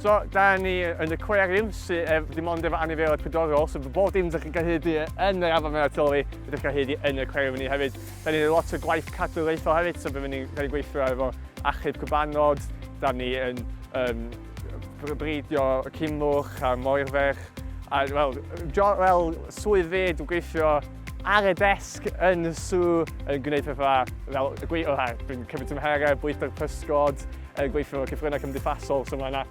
So, da ni yn y cweriwn sydd ef, dim ond efo anifeiliaid pydorol, so bob dim ydych chi'n cael hyd i yn yr afon mewn atoli, ydych chi'n cael hyd i yn y cweriwn ni hefyd. Da ni'n lot o gwaith cadw leithol hefyd, so byddwn ni'n cael ei gweithio efo achub cybanod, da ni yn um, breidio cymwch a moerferch, a wel, jo, well, swydd fe dwi'n gweithio Ar y desg yn y sw yn gwneud pethau fel y gweithio, dwi'n cymryd tymheredd, bwyta'r pysgod, yn gweithio mewn cyfryngau cymdeithasol, so mae yna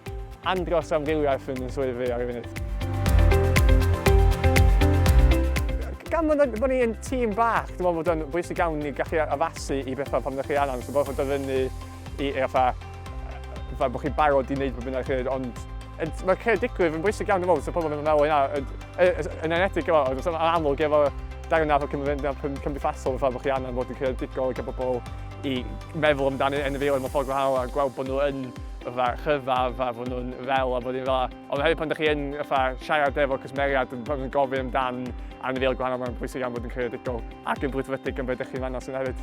andros am rywiaeth yn y swydd fi ar y funud. Gan fod yn bod ni'n tîm bach, dwi'n meddwl bod o'n bwysig iawn i gallu addasu i bethau pan ydych chi angen, so bod o'n dod fyny I, i fatha, fatha bod chi'n barod i wneud beth bynnag chi'n ond mae creadigrwydd yn bwysig iawn i fod, so pobl yn meddwl yna, yn enedig efo, ond yn amlwg efo darn o cymryd cymdeithasol, fatha bod chi angen bod yn creadigol ac bobl i meddwl amdano yn y fil yn ffordd gwahanol a gweld bod nhw yn fatha rhyfedd a bod nhw'n fel a bod nhw'n fel Ond hefyd pan ydych chi yn fatha, siarad efo cwsmeriaid yn, yn gofyn amdan anifeiliaid gwahanol, mae'n bwysig iawn bod yn creadigol ac yn brwdfrydig yn beth ydych chi'n fannos yn hefyd.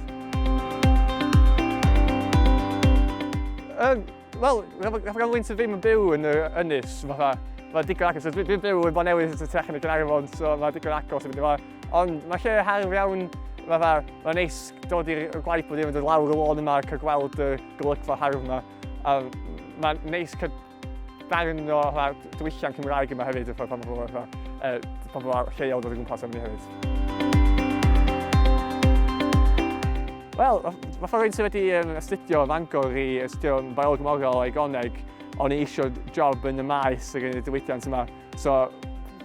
Um, Wel, rhaid gael wynt ddim yn byw yn yr ynys, fatha, mae digon agos, dwi'n byw yn Bonewydd yn tech yn y Gynarfon, so mae digon agos yn mynd i fo. Ond mae lle hardd iawn, fatha, mae'n neis dod i'r gwaith bod i'n mynd lawr y lôn yma ac a gweld y golygfa hardd yma. A mae'n neis Darn o fatha diwylliant Cymraeg yma hefyd, y ffordd pan pobl fatha, uh, pobl lleol dod o gwmpas am ni hefyd. Wel, mae ffordd rwy'n sydd wedi um, astudio Fangor i astudio biolog morol o'i goneg, ond i eisiau job yn y maes ar y diwydiant yma. So,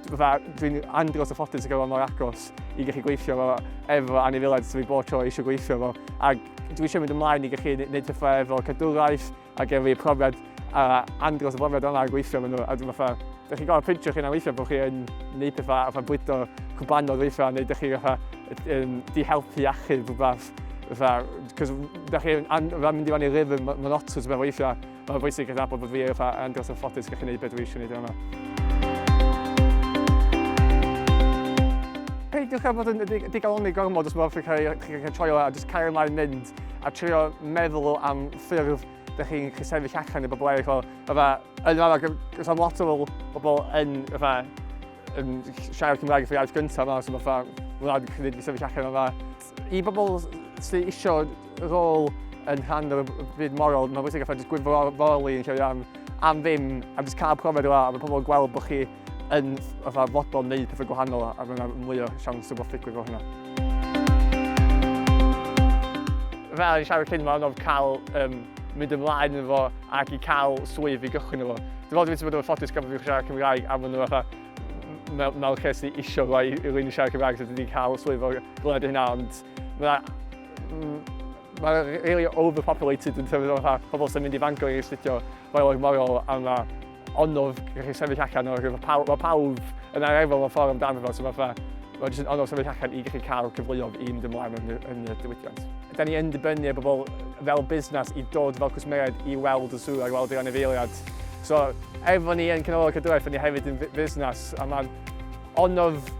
dwi'n andros o ffodus i gael mor agos i gallu gweithio fo efo anifiledd sydd wedi bod tro eisiau gweithio fo. Ac dwi eisiau mynd ymlaen i gallu gwneud pethau efo cadwraeth, Ac efo y profiad a andros o brofiad yna a gweithio efo nhw, a dwi'n fatha, dych chi'n gorfod printio'ch hunan weithio bod chi yn neud pethau a fatha bwydo cwbanodd weithio, neu dych chi fatha yn di-helpu achub rhywbeth. Fatha, cos dych chi yn mynd i fan i rhythm monotonous mewn weithio, mae'n bwysig yn nabod bod fi fatha andros o ffodus gallu neud beth dwi eisiau neud yma. Peidiwch â bod yn digalonni gormod os mae rhywbeth yn cael ei troi'n dda, jyst cario mlaen mynd a trio meddwl am ffurf dych chi'n gallu sefyll allan i bobl eraill o. Fatha, yn yma, gos am lot o fel bobl yn, fatha, yn siarad Cymraeg fatha iaith gyntaf yma, so fatha, mae'n cynnig i sefyll allan yma. I bobl sy'n isio rôl yn rhan o'r byd moral, mae'n bwysig fatha jyst gwirfoddoli yn lle am, am ddim, a jyst cael profiad o a mae pobl yn gweld bod chi yn fatha fodlon wneud pethau gwahanol a mae yna mwy o siawns o beth ddigwydd fel hynna. Fel o'n i'n siarad cyn, mae'n anodd cael um, mynd ymlaen yn fo ac i cael swydd i gychwyn yn fo. Dwi'n meddwl dwi'n bod yn ffodus gael bod fi'n siarad Cymraeg a maen nhw fatha mewn mel lle sy'n isio fo i, i rwy'n siarad Cymraeg sydd wedi cael swydd o'r gled hynna ond mae'n ma really overpopulated yn terms o fatha pobl sy'n mynd i fango i astudio fel o'r morol a mae Onnodd i chi sefyll allan o'r rhyfel. Paw, mae pawb yn ar efo mewn ffordd amdano fo, so mae fatha, mae jyst yn onnodd sefyll allan i gallu cael cyfleoedd i mynd ymlaen yn, yn y diwydiant. Da ni yn dibynnu ar bobl fel busnes i dod fel cwsmeriaid i weld y sŵr a weld yr anifeiliad. So, efo ni yn Canolfan Cadwraeth, da ni hefyd yn busnes, a mae'n onnodd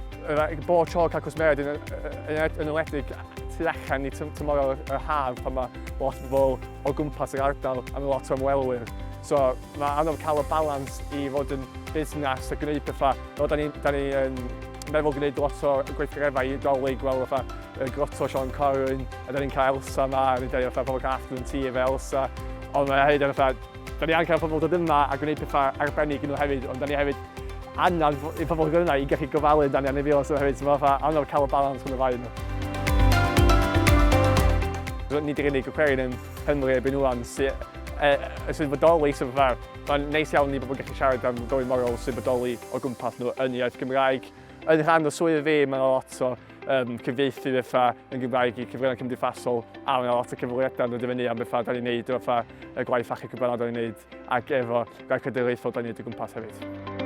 bod tro cael cwsmeriaid yn, yn, yn enwedig tu allan i tymor y haf pan mae lot o bobl o gwmpas yr ardal a mae lot o ymwelwyr. So, Mae anodd cael y balans i fod yn busnes a gwneud pethau. Fel da ni, da ni yn meddwl gwneud lot o gweithgareddau i Dolig, fel fatha y groto Sean Corwyn, a da ni'n cael Elsa yma, a ni'n dweud fatha pobl cael afternoon tea efo Elsa. Ond mae hefyd yn fatha, da ni angen cael pobl dod yma a gwneud pethau arbennig i nhw hefyd, ond da ni hefyd angen i pobl dod yna i gallu gofalu amdani a wneud fi osod hefyd, so mae fatha anodd cael y balans rhwng y ddau nhw. Nid yr unig aquarium Cymru erbyn ŵan sy'n bodoli, so fatha, mae'n neis iawn i bobl gallu siarad am bywyd morol sy'n bodoli o gwmpas nhw yn iaith Gymraeg. Yn rhan o swydd fi, mae'n lot o um, cyfieithu fatha yn Gymraeg i cyfryngau cymdeithasol a mae'n lot o cyfweliadau yn dod i fyny am bethau da ni'n neud o fatha y gwaith achub cyfbalad da ni'n neud ac efo gwaith cadwraethol da ni'n neud o gwmpas hefyd.